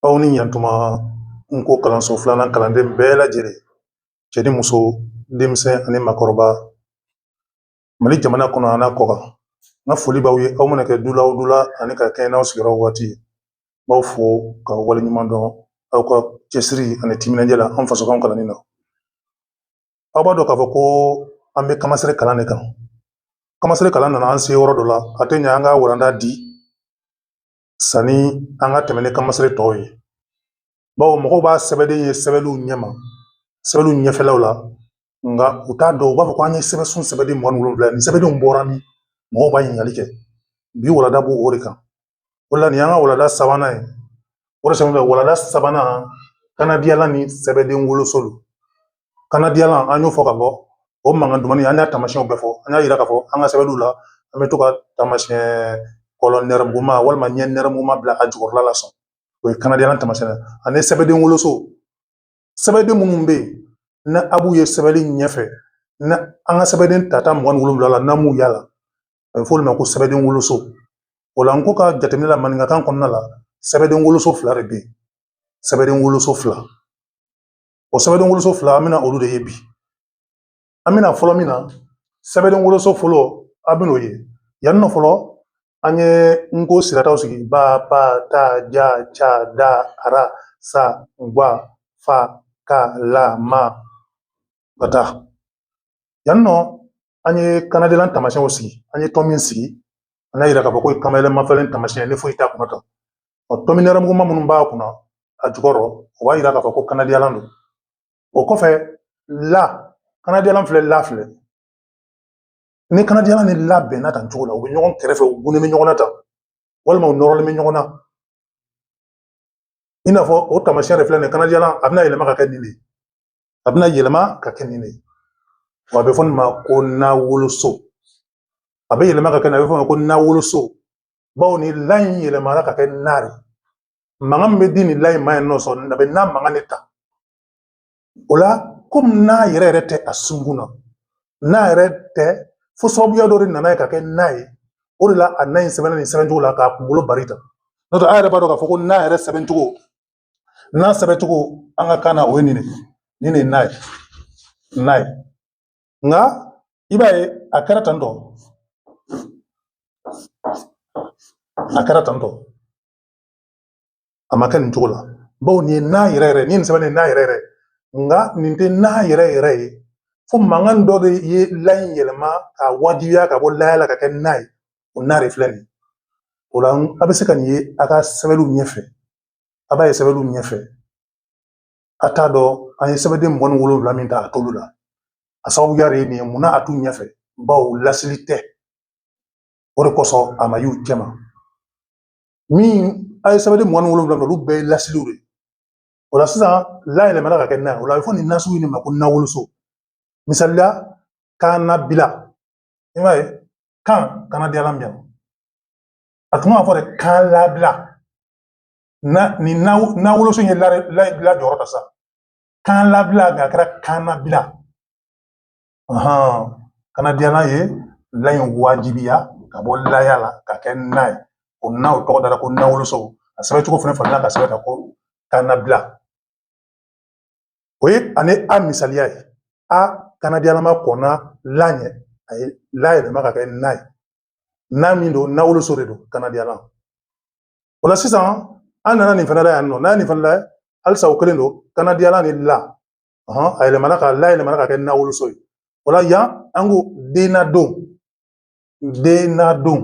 aw ni yan tuma nko kalanso filanan kalanden bɛɛ lajɛlen cɛ ni muso denmisɛn ani makɔrɔba mali jamana kɔnɔ an'a kɔkan n ka foli b'aw ye aw mana kɛ dula o dula ani ka kɛɲɛ n'aw sigiyɔrɔ waati n b'aw fo ka wale ɲuman dɔn aw ka cɛsiri ani timinandiya la an fasokanw kalanni na aw b'a dɔn k'a fɔ ko an bɛ kanmasere kalan de kan kanmasere kalan nana an se yɔrɔ dɔ la a tɛ ɲɛ an ka walanda di sanni an ka tɛmɛ ni kanmasere tɔw ye bawo mɔgɔw b'a sɛbɛnden ye sɛbɛnniw ɲɛ ma sɛbɛnniw ɲɛfɛlaw la nka u t'a dɔn u b'a fɔ ko an ye sɛbɛnsun sɛbɛnden mugan ni wolonwula nin sɛbɛndenw bɔra min mɔgɔw b'a ɲininkali kɛ bi walada b'o o de kan o la nin y'an ka walada sabanan ye o de sɛbɛn walada sabanan kanadiyalan ni sɛbɛnden woloso don kanadiyalan an y'o fɔ k'a fɔ o mankan duman in an y'a taamasiyɛnw bɛɛ fɔ an y'a yira k'a fɔ an ka sɛbɛnw la an bɛ to ka taamasiyɛn kulɛri nɛrɛmuguma walima ɲɛ nɛrɛmuguma bila a jukɔrɔla la sɔn o ye kanadiyalan taamasiyɛn ani sɛbɛden woloso sɛbɛden minnu bɛ yen ni a b'u ye sɛbɛnni ɲɛfɛ ni an ka sɛbɛnden tata mugan ni wolonwula la n'an m'u y'a la a bɛ fɔ olu ma ko sɛbɛden woloso o la nko ka jateminɛ la maninkakan kɔnɔna la sɛbɛden woloso fila de bɛ yen sɛbɛden woloso fila O sɛbɛnden woloso fila an bɛna olu de ye bi an bɛna fɔlɔ min na sɛbɛnden woloso fɔlɔ aw bɛ nin ye yan nɔ fɔlɔ an ye nko sirataw sigi ba pa ta ja ca da ara sa gwa fa ka la ma ka taa yan nɔ an ye kanadiyalan taamasiyɛnw sigi an ye tomi sigi an y'a yira k'a fɔ k'o ye kanmayɛlɛ mafalen taamasiyɛn ni foyi t'a kunna Ɔ tomi nɛrɛmuguma minnu b'a kunna a jukɔrɔ o b'a yira k'a fɔ ko kanadiyalan don o kɔfɛ la kanadiyalan filɛ la filɛ ni kanadiyalan ni la bɛnna tan cogo la u bɛ ɲɔgɔn kɛrɛfɛ u tugunnen bɛ ɲɔgɔn na tan walima u nɔrɔlen bɛ ɲɔgɔn na i n'a fɔ o taamasiyɛn de filɛ nin ye kanadiyalan a bɛna yɛlɛma ka kɛ nin de ye a bɛna yɛlɛma ka kɛ nin de ye wa a bɛ fɔ nin ma ko na woloso a bɛ yɛlɛma ka kɛ nin a bɛ fɔ o ma ko na woloso bawo ni la in yɛlɛmana ka kɛ na de mankan min bɛ di nin la in ma yan nɔ sa a bɛ na mankan de ta o la komi na yɛrɛ yɛrɛ tɛ a sunkun na na yɛrɛ tɛ fo sababuya dɔ de nana ye ka kɛ na ye o de la a na in sɛbɛnna nin sɛbɛncogo la k'a kunkolo bari ta n'o tɛ aw yɛrɛ b'a dɔn k'a fɔ ko na yɛrɛ sɛbɛncogo na sɛbɛncogo an ka kan na o ye nin de ye nin de ye na ye na ye nka i b'a ye a kɛra tantɔ a kɛra tantɔ a ma kɛ nin cogo la bawo nin ye na yɛrɛ yɛrɛ nin ye nin sɛbɛn nin na yɛrɛ yɛrɛ nka nin tɛ na yɛrɛ yɛrɛ ye fo mankan dɔ de ye la in yɛlɛma k'a wajibiya ka bɔ laya la ka kɛ na ye o na de filɛ nin ye o la a bɛ se ka nin ye a ka sɛbɛnw ɲɛfɛ a b'a ye sɛbɛnw ɲɛfɛ a t'a dɔn an ye sɛbɛnden mugan ni wolonwula min ta a t'olu la a sababuya de ye nin ye munna a t'u ɲɛfɛ bawo lasili tɛ o de kosɔn a ma y'u cɛma minnu ye sɛbɛnden mugan ni wolonwula olu bɛɛ ye lasiliw de ye o la sisan la yɛlɛmana ka kɛ na ye o la a bɛ fɔ nin na sugu in de ma ko nawoloso misali la kan nabila i b'a ye kan kanadiyala minɛ a tun b'a fɔ de kan labila na ni nawoloso ye la jɔyɔrɔ ta sa kan labila nka a kɛra kan nabila kanadiyala ye la in wajibiya ka bɔ laya la ka kɛ na ye o na o tɔgɔ dara ko nawoloso a sɛbɛn cogo fana fana i k'a sɛbɛn tan ko kan nabila o ye ani a misaliya ye a kanadiyalama kɔnna la ɲɛ a ye la yɛlɛma ka kɛ na ye na min don nawoloso de don kanadiyala o la sisan an nana nin fana la yan nɔ n'a ye nin fana lajɛ halisa o kelen don kanadiyala ni la a yɛlɛmana ka la yɛlɛmana ka kɛ nawoloso ye o la yan an ko dennadon dennadon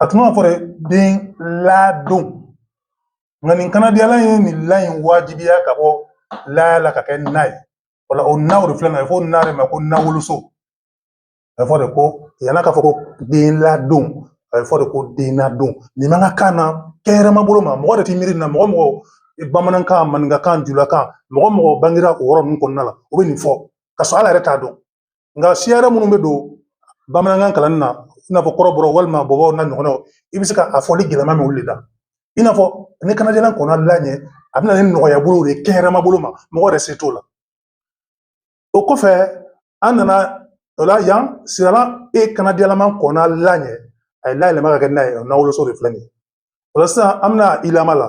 a tun b'a fɔ de den ladon nka nin kanadiyala ye nin la in wajibiya ka bɔ laya la ka kɛ na ye o la o na o de filɛ nin ye fɔ na de ma ko nawoloso a bɛ fɔ de ko yann'a ka fɔ ko den ladon a bɛ fɔ de ko dennadon nin maninkakan na kɛnɛma bolo ma mɔgɔ de tɛ miiri na mɔgɔ mɔgɔ bamanankan maninkakan julakan mɔgɔ mɔgɔ bangera o yɔrɔ ninnu kɔnɔna la o bɛ nin fɔ ka sɔrɔ ale yɛrɛ t'a dɔn nka siya wɛrɛ minnu bɛ don bamanankan kalanni na i n'a fɔ kɔrɔbɔrɔ walima bɔbɔw n'a ɲɔgɔnnaw i bɛ se ka a fɔli gɛlɛma min wuli la i n'a fɔ ni kanadiyala kɔnna la ɲɛ a bɛ na ni nɔgɔya bolo de ye kɛnɛma bolo ma mɔgɔ yɛrɛ se t'o la o kɔfɛ an nana o la yan siralan e kanadiyalama kɔnna la ɲɛ a ye la yɛlɛma ka kɛ na ye o nawoloso de filɛ nin ye o la sisan an bɛna i lama la